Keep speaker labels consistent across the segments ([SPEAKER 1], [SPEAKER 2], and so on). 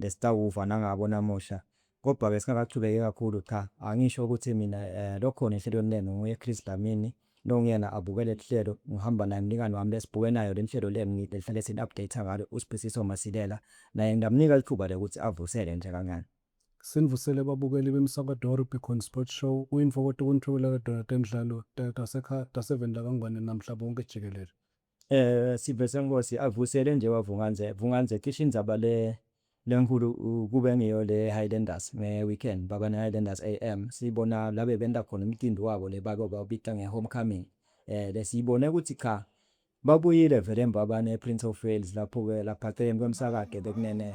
[SPEAKER 1] The Sitawufa nangabo namuhla. Kodwa ke singakachubeki kakhulu cha angisho ukuthi mina lokhona enhlelweni lenu nguye Chris Dlamini nokunguyena abuke lelihlelo ngihamba naye mlingani wami lesbuke nayo lenhlelo lengni lelihlale sili update ngalo uSbisiso Masilela naye nglamnika lithuba lokuthi avusele nje kancane. Sinivusele
[SPEAKER 2] babukeli bemsakato Rugby Khona Sport Show uyinfokoto kunithwebela lodwa Donate Mdlalo Tasekhaya Taseveni lakaNgwane namhla bonke jikelele. Sive
[SPEAKER 1] senkosi avusele nje wa Vunganze Vunganze cishe indzaba le lenkhulu kube ngiyo le Highlanders nge weekend baba ne Highlanders AM sibona la bebenta khona umcimbi wabo le bake bawubita nge homecoming le siyibone kutsi cha babuyile vele mbabane e Prince of Wales lapho ke lapha celeni kwemsakade bekunene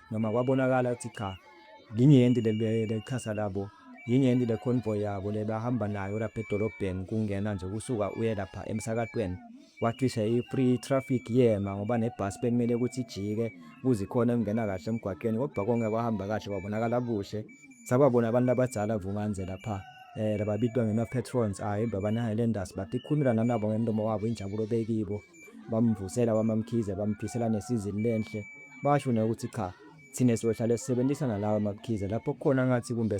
[SPEAKER 1] noma kwabonakala ukuthi cha linyenti leliqhasa labo yinyenti le convoy yabo lebahamba nayo lapha edolobheni kungena nje kusuka uye lapha emsakatweni wacisha i-free traffic yema ngoba nebhasi bekumele ukuthi ijike kuze ikhona kungena kahle emgwaqeni kodwa konke kwahamba kahle kwabonakala kuhle sababona abantu abadala vumanje lapha um lababitwa ngema-patrons ayi ah, baba ne-highlanders but ikhulumela nanabo ngemlomo wabo injabulo bekibo bamvusela wamamkhize bamphisela nesizini lenhle basho naye ukuthi cha thina siyohlale sisebenzisa nalawa mabukhize lapho khona ngathi kumbe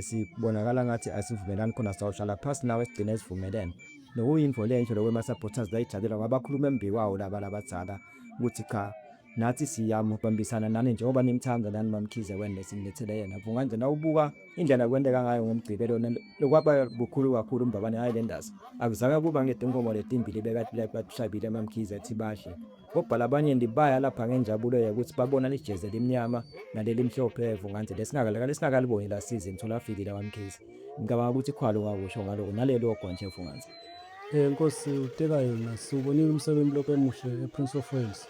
[SPEAKER 1] sibonakala ngathi asivumelani khona sawuhlala phasi nawe sigcine esivumelene nokuyinfo lenhle lokwema-supporters layijabela ngoba bakhuluma embi kwawo laba labadala ukuthi cha Nathi siyamubambisana nani njengoba nimthanda nani mamkhize wena sinilethele yena vunga nje nawubuka indlela kwenteka ngayo ngomgcibelo lokwaba bukhulu kakhulu umbabane hayi lendazi akuzange kuba ngetinkomo letimbili bekatibishabile mamkhize ethi badle kobhala abanye ndibaya lapha ngenjabulo yokuthi babona lijeze limnyama naleli mhlophe vunga nje lesingakalaka lesingakaliboni lasize mtholafikile mamkhize ngicabanga ukuthi khwalo wakusho ngaloko nalelo ogonje vunga nje Eh nkosi
[SPEAKER 2] utekayo nasi ubonile umsebenzi lokho emuhle ePrince of Wales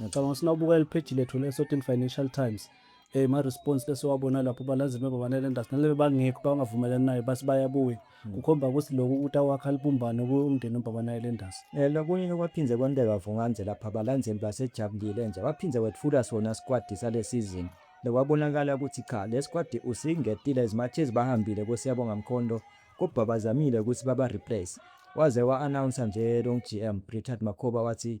[SPEAKER 2] Ngicabanga ukuthi nawubukela ipheji lethu le-Certain Financial Times eh ma-response esiwabona lapho balanzi bebabanelendasi nalebe bangekho bangavumelani naye bathi bayabuya kukhomba ukuthi lokhu ukuthi awakha libumbane kuyo umndeni umbabanayelendasi Eh lokunye okwaphinde
[SPEAKER 1] kwenteka Vungandze lapha balandzeli basejabulile nje baphinde wetfula sona squad sale season lokwabonakala ukuthi cha le squad usingetile as much as bahambile koSiyabonga Mkhonto kodwa bazamile ukuthi baba replace waze wa announce nje lo GM Richard Makhoba wathi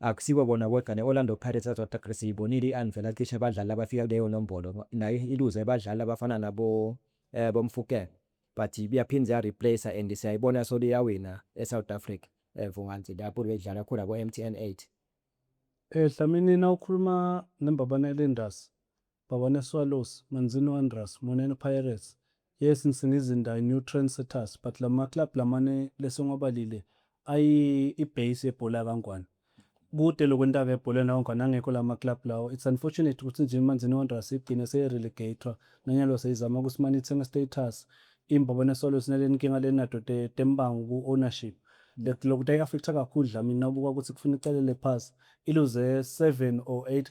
[SPEAKER 1] Akusibo bona bodwa ne-Orlando Pirates South Africa siyibonile i-Anvil acishe abadlali abafika kuleyo nombolo nayo iluze abadlali abafana nabo bo Mofokeng but yaphinde ya replacer and siyayibona solo iyawina eSouth Africa Vumance lapho beyidlala khona koMTN eight.
[SPEAKER 2] Dlamini nawukhuluma neMbabane Linders Baba ne Swallows, Manzini Wanderers, Monene Pirates, yes Msingizinda new trend setters but lama club lama ni lese ngwabalile ayi i base yebhola kaNgwane. Kude lokhu entaka ebholeni lawoNgwane angekho lama club lawo. It's unfortunate ukuthi nje iManzini Wanderers igcine seye relegator nanyalo seyizama ukuthi mani ithenge status. IMbaba ne Swallows nale nkinga le nato te tembango ku ownership. Lokhu tayi affecta kakhulu Dlamini nawubuka ukuthi kufuna icelele phasi iluze 7 or 8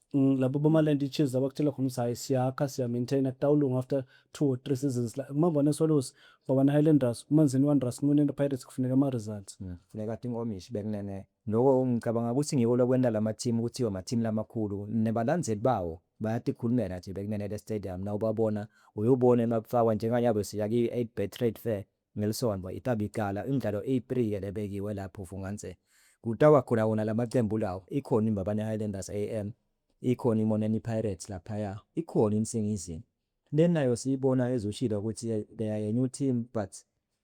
[SPEAKER 1] Mm, labo bamaland
[SPEAKER 2] ichiefs abakutshela khona ukuthi hhayi siyakha siya-maintaina kutawulunga after two or three seasons la umambane eswallows babana highlanders umanzini wanderers kunonento pirates kufuneka ama-results funeka athi inkomishi
[SPEAKER 1] bekunene loko ngicabanga ukuthi ngiko lokwenta lamathimu ukuthi wamathimu lamakhulu nebalandzeli bawo bayatikhulumela nje bekunene le-stadium nawubabona uyobona emabufakwa njenganyalo siya ki-eight bay trade fair Ngelisonto itabe iqala imidlalo eyi-three ebekiwe la phofu nganse kutawa khona wona la maqembu lawo. Ikhona iMbabane Highlanders AM, ikhona iMoneni Pirates laphaya, ikhona iNsingizimu. Le nayo siyibona as ushilo ukuthi they are a new team but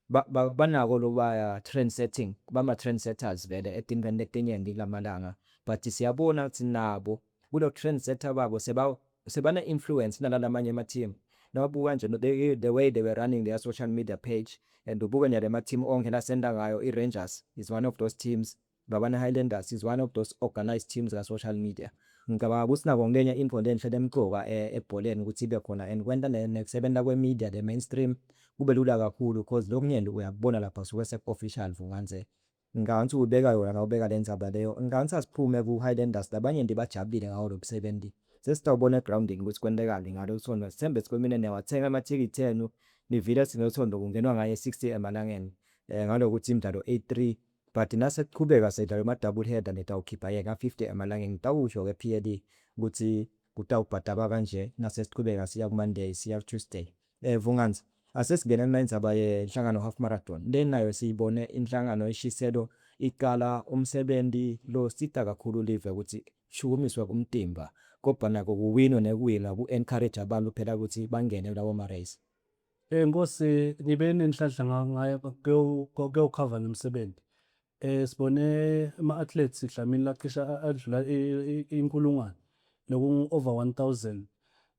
[SPEAKER 1] banako lobaya trend setting, bama-trend setters vele etimdlalweni letinyenti kulamalanga but siyabona ukuthi nabo kulo trend setter wabo seba sebana influence nalalamanye ama team nawabuka nje the, the way they were running their social media page and ubuke nje lama team onke la senda ngayo i Rangers is one of those teams Babana Highlanders is one of those organized teams ka social media ngicabanga ukuthi nako ngenye into lenhle lemqoka e, ebholeni ukuthi ibe khona and kwenta nekusebenza kwe media the mainstream kube lula kakhulu because lokunyenti uyakubona lapha suke seku official vunganze Ngicabanga ukuthi ubeka yona la ubeka lendzaba leyo. Ngicabanga ukuthi asiphume ku Highlanders labanye nje bajabulile ngawo lomsebenzi. Sesitawubona e groundini ukuthi kwentekani ngalolusondo. Sithembe sikhuluma nina niwathenga amathikithi enu nivile sithi ngesondo kungenwa ngaye e 60 emalangeni ngalokuthi imdlalo e 3 but nasekuqhubeka sekudlalwa ama double header nitawukhipha yena 50 emalangeni ngitawusho ke PLE ukuthi kutawubhadaba kanje nasesiqhubeka siya ku Monday siya ku Tuesday. Eh Vunganzi asesingene nenzaba ye nhlangano half marathon le nayo siyibone inhlangano eshiselo iqala umsebenzi lo sita kakhulu live ukuthi shukumiswe kumtimba kobha nako kuwinwe nekuwinwa ku encourage abantu phela ukuthi bangene kulawo ma race. Nkosi
[SPEAKER 2] ngibe nenhlanhla ngayo kuyokhava nomsebenzi Eh, sibone ama-athletes Dlamini lacisha a- adlula i- i- inkulungwane nokungu-over 1000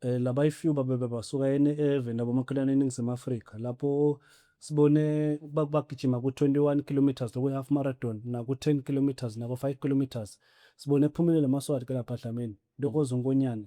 [SPEAKER 2] eh, labayifew babebe basuka ene- eveni labomakhelwane eningizimu afrika lapho sibone ba- bagijima ku-21 kilometres lokuyi-half marathon naku-10 kilometres naku-5 kilometres sibone kuphumelele amaswati ke lapha dlamini ntokozo nkonyane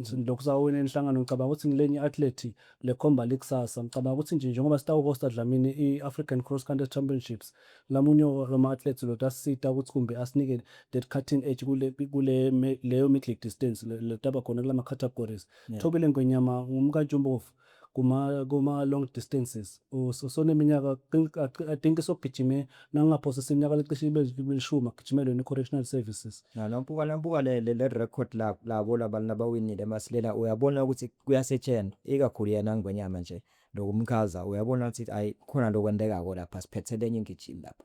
[SPEAKER 2] Ngilokhu sawina inhlangano ngicabanga ukuthi ngilenye i-athlete le khomba likusasa. Ngicabanga ukuthi nje njengoba sitawuhosta Dlamini i-African Cross Country Championships ngamunye wama-athletes lo utasisita ukuthi kumbe asinike that cutting edge kule kule leyo midley distance le le taba khona kula ma-categories. Thobile Ngwenyama ngumka Ntshubovu kuma kuma long distances usuneminyaka I think isogijime nangingaphosisa iminyaka lecishe ibe lishumi agijime lona i-correctional services Nanampuka nampuka le
[SPEAKER 1] le le record la labo labantu labawinile masilela uyabona ukuthi kuyasetshenzwa ikakhulu yena ngwenyama nje lokumchaza uyabona ukuthi ayi khona lokwendekako lapha siphethe lenye ingijimi lapha.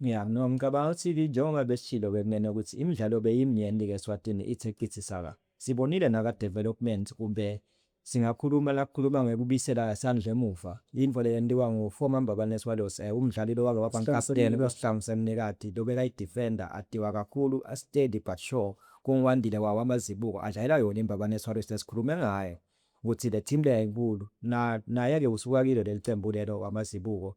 [SPEAKER 2] Ya no
[SPEAKER 1] ngicabanga ukuthi ke njengoba besishilo ke kunene ukuthi imidlalo beyimnyenti ke Swatini ithe qithi saka. Sibonile naka development kumbe singakhuluma lakukhuluma ngekubisela isandla emuva intfo leyentiwa ngu former Mbabane Swallows eh umdlali lowake waba nkaputeni kulo sihlangu semnikati lobekayi defender atiwa kakhulu a steady but sure kungu Wandile wawo amazibuko adlalela yona iMbabane Swallows lesikhulume ngayo ukuthi le team leya inkulu na naye ke usuka kilo lelicembu lelo wamazibuko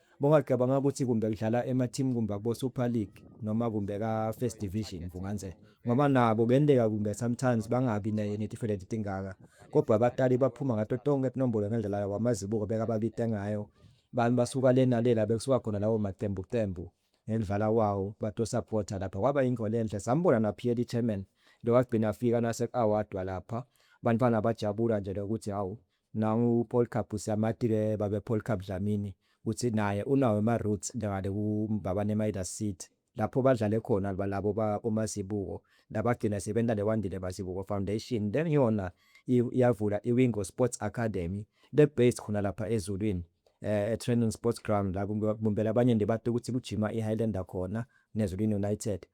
[SPEAKER 1] Bongacabanga ukuthi kumbe kudlala emateam kumbe akubo Super League noma kumbe ka First Division Mvunganze ngoba nabo kuyenteka kumbe sometimes bangabi ne netifeleti tingaka kodwa abatali baphuma ngato tonke tinombolo ngendlela yabo amazibuko bekababite ngayo bami basuka lena lela bekusuka khona lawo maqembu qembu ngendlala wawo batosapota lapha kwaba yinto lenhle sambona naphiyeli chairman lowagcina afika nase-awadwa lapha bantwana bajabula nje lokuthi hawu Nangu uPolkab uSyamatile babe Polkab Dlamini uthi naye unawo ama roots ngale ku Mbabane Midas Seed lapho badlale khona labo ba Mazibuko labagcina sebenta le Wandile Mazibuko Foundation leyona yavula i Wingo Sports Academy le based khona lapha eZulwini e Training Sports Ground la kumele abanye nibate ukuthi kujima i Highlander khona ne Zulwini United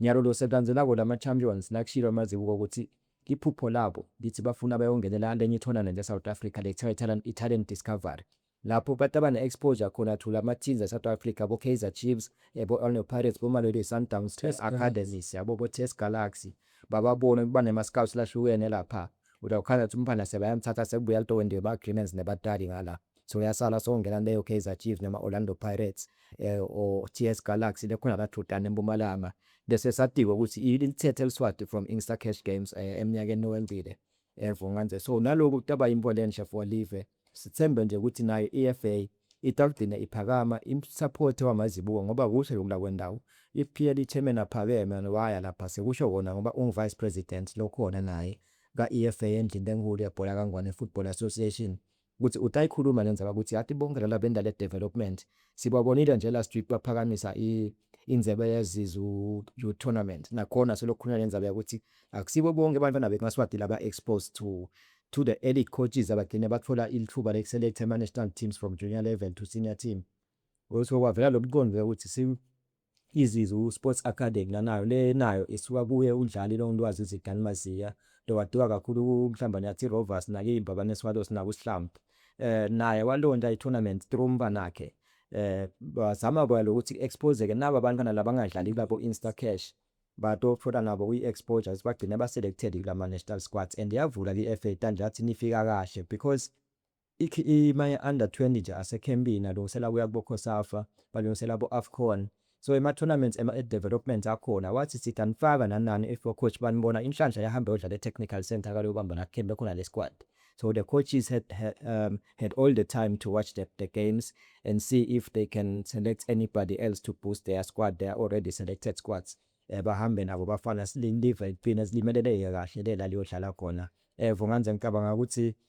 [SPEAKER 1] Ngyalolo sekanze labo lama champions lakushilo amazibuko ukuthi iphupho labo lithi bafuna bayongenela lenye i tournament e South Africa le kuthiwa i talent discovery lapho abantu abane exposure khona to lama teams e South Africa bo Kaizer Chiefs ebo Orlando Pirates bo Mamelodi Sundowns Test Academies yabo bo Test Galaxy bababone kuba nema scouts lahlukene lapha udakukhanya ukuthi umfana sebayamthatha sekubuya lento wendiwe ma agreements nebatali ngala So yasala songena leyo Kaizer Chiefs noma Orlando Pirates eh, or TS Galaxy lekhona la Thutana eMpumalanga bese satikwa ukuthi ilithethe eliswati from Insta Cash Games eh, eminyakeni owendile evunganje eh, so naloku taba imbo lenhle for live sithembe nje ukuthi nayo EFA itagcina iphakama imsaphothi wamazibuko ngoba kusho lokula kwendawo iPL ichairman aphakeme waya lapha sekusho wona ngoba unguvice president lokhona naye ka-EFA endlini enkulu yebhola kaNgwane Football Association ukuthi utayikhuluma lenzaba ukuthi yathi bonke laba bendale development sibabonile nje last week baphakamisa inzebe yezizu you tournament nakhona selokhuluma lenzaba yakuthi akusibo bonke abantwana bemaswati laba exposed to to the elite coaches abagcine bathola ilithuba lokuselecta ama-national teams from junior level to senior team ukuthi kwavela lo mqondo ukuthi Izizwe Sports Academy nanayo le nayo isuka kuye uDlali Longilwazi Zidani Maziya lo waduka kakhulu kuMhlambanyathi Rovers nakiMbabane Swallows nakuSihlabh naye walonta itournament through umbanakhe bazama kwela ukuthi expose ke naba bantwana labangadlali kulabo Insta Cash batothola nabo kwi exposure sibagcine ba selected kulama national squads and yavula kwi FA Tanda yathi nifika kahle because Ikhima ye under 20 nje asekhempini alungisela kuya kubo Cosafa balungisela abo Afcon so ema tournaments ema at developments akhona wathi sitha nifaka nanani if o coach banibona inhlanhla yahamba yodlala e technical centre kaluyobamba la camp ekhona le squad so the coaches had um, had all the time to watch the, the games and see if they can select anybody else to boost their squad they are already selected squads eh, bahambe nabo bafana silindivekugcina silimeleleke kahle le laliyodlala khona evo nganze ngicabanga ukuthi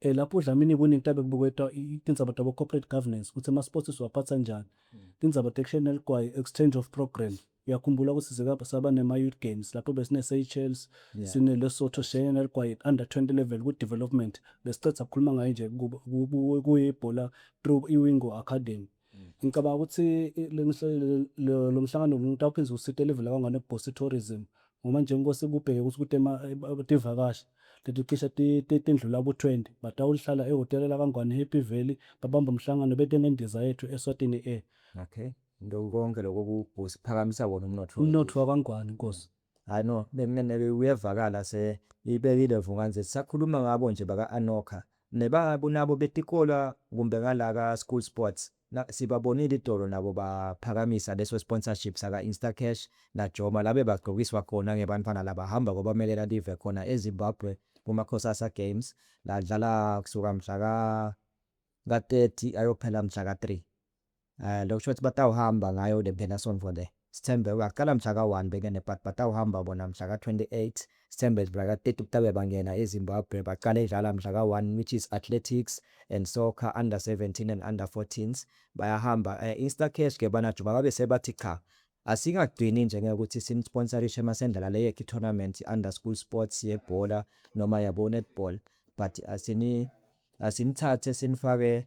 [SPEAKER 2] Eh lapho uDlamini kuningi tabe kubuketwa tindzaba tabo corporate governance kutsi ema sports siwaphatsa njani. Tindzaba tekushaye neligwayi exchange of program. Uyakhumbula kutsi size saba nema youth games lapho besine Seychelles, sine Lesotho sishayene neligwayi at under 20 level ku development. Besicedza kukhuluma ngaye nje kube kuye ibhola through iWingo Academy. Ngicabanga ukuthi lo mhlangano umuntu awuphinde usite level kangane kubhosi tourism ngoba nje inkosi kubheke ukuthi ukuthi tivakashi leti cishe tindlula ku-20 batawuhlala ehhotela lakangwane Happy Valley babamba umhlangano bete ngendiza yethu eSwatini Air. Okay.
[SPEAKER 1] Ndokonke lokho kubhosi phakamisa wona umnotho. Umnotho wakangwane
[SPEAKER 2] inkosi. Hhayi no
[SPEAKER 1] bengingenele uyevakala se ibekile Vuk'anze sisakhuluma ngabo nje baka Anokha neba nabo betikolwa kumbe ngala ka school sports na sibabonile itolo nabo ba phakamisa leso sponsorship saka Instacash na Joma la beba gqokiswa khona ngebantfwana laba hamba kobamelela live khona e Zimbabwe kuma Cosasa games la dlala kusuka mhla ka ka 30 ayophela mhla ka 3. Eh lokusho ukuthi batawuhamba ngayo le mpelasonto le. Sithembe uyaqala mhla ka-1 bekene but batawuhamba bona mhla ka-28. Sithembe mhla ka-30 kutabe bangena eZimbabwe baqale dlala mhla ka-1 which is Athletics and Soccer Under 17 and Under 14s bayahamba. Eh Instacash ke bana juba babe sebathi cha asingagcini nje ngokuthi sinisponsarishe masendlala le yethu tournament under school sports yebhola noma yabo netball but asini asinithathe sinifake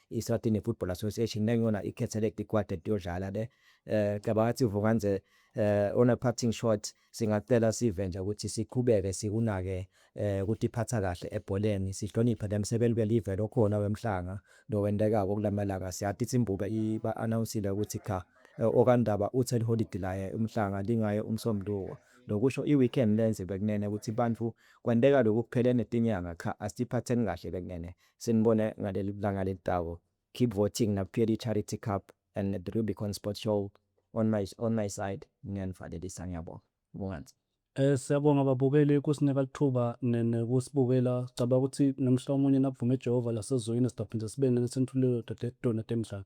[SPEAKER 1] i-Eswatini Football Association nengiyona i-select ikwad etiyodlala le eh cabanga ukuthi uvuka nje eh on a parting shot singacela sive nje ukuthi siqhubeke sikunake eh ukuthi iphatha kahle ebholeni sihloniphe nemsebenzi belive lokhona wemhlanga nowendekako kulamalanga siyathi isimbuka iba announcile ukuthi cha eh, okandaba uthel holiday laye umhlanga lingaye umsombuluko lokusho i-weekend lenze bekunene ukuthi bantu kwenteka lokhu kuphelene tinyanga cha asiphatheni kahle bekunene Sinibone ngaleli langa leli Tabo. Keep voting na Phiri Charity Cup and the Rubicon Sports Show on my on my side niyanivalelisa ngiyabonga. Vukani. Siyabonga
[SPEAKER 2] babukeli ukusinika lithuba nekusibukela sicabanga ukuthi nomhla omunye nakuvume Jehova lasezulwini sizophinde sibe nani senithuliwe dodethu Donate Mdlana.